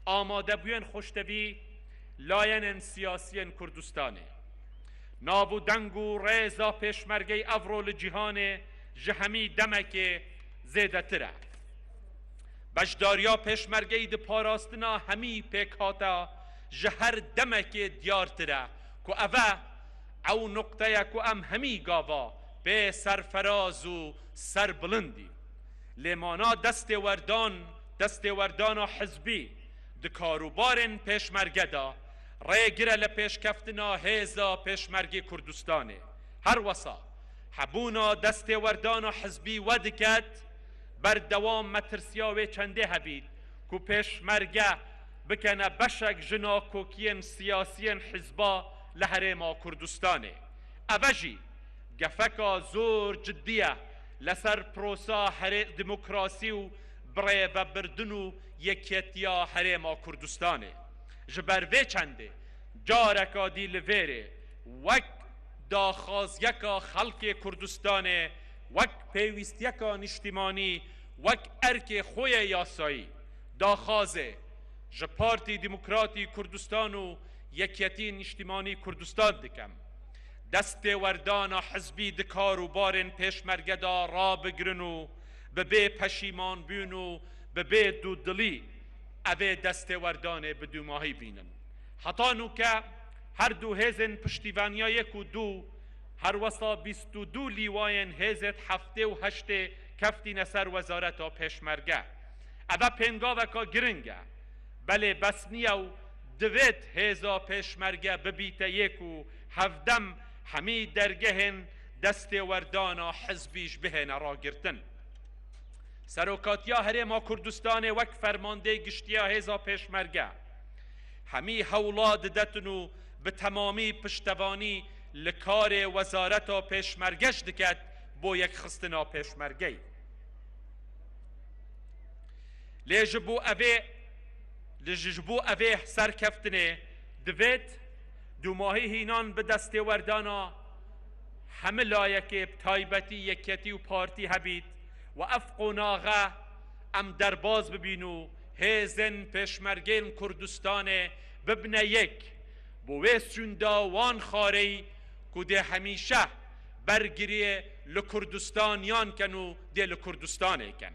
amadebûyên xweştevî layenên siyasî yên Kurdistanê, nav û deng û rêza pêşmergeyê evro li cîhanê ji hemî demekê zêdetir e. Beşdariya pêşmergeyî di parastina hemî pêkhata ji her demekê diyartir e ku ev e ew nuqteye ku em hemî gava pê serferaz û serbilind in. Lê mana destêwerdan, Destêwerdana hizbî di karûbarên pêşmerge de rê gir e li pêşkeftina hêza pêşmergê Kurdistanê. Her wisa hebûna destêwerdana hizbî wediket, berdewam metirsiya wê çendê hebît ku pêşmerge bikene beşek ji nakokiyên siyasiyên hizba li herêma Kurdistanê. Eve jî gefeka zor cidî ye li ser prosa herê demokrasî û bi rê vebirdin û yekîyetiya Herêma Kurdistanê. Ji ber vê çendê careka dî li vêrê wek daxwaziyeka xelkê Kurdistanê, wek pêwîstiyeka nîştîmanî, wek erkê xwe yê yasayî daxwazê ji Partî Demokratî Kurdistan û Yekîyetî Nîştîmanî Kurdistan dikim. Destêwerdana hizbî di kar û barên pêşmerge de rabigirin û, bi bê peşîmanbûn û bi bê dûdilî ev ê destêwerdanê bi dûmahî bînin. Heta nûke her du hêzên piştîvaniya yek û du, her wesa bîst û du lîwayên hêzêd heftê û heştê keftîne ser wezareta pêşmerge. Eve pêngaveka giring e. Belê bes niye û divêt hêza pêşmerge bibîte yek û hevdem hemî dergehên Destêwerdana hizbî ji bihêne ragirtin. Serokatiya Herêma Kurdistanê wek fermandê giştiya hêza pêşmerge hemî hewla didetin û bi temamî piştevanî li karê wezareta pêşmerge ji diket bo yekxistina pêşmergeyê. Lê ji bo evê li ji bo evê serkeftinê divêt dûmahî hînan bi destêwerdana hemû layekê bi taybetî Yekketî û Partî hebît û ev qonaxe em derbas bibîn û hêzên Pêşmergeyên Kurdistanê bibne yek bo wê sûnda wan xareyî ku dê hemîşe bergiriyê li Kurdistaniyan ken û dê li Kurdistanê ken.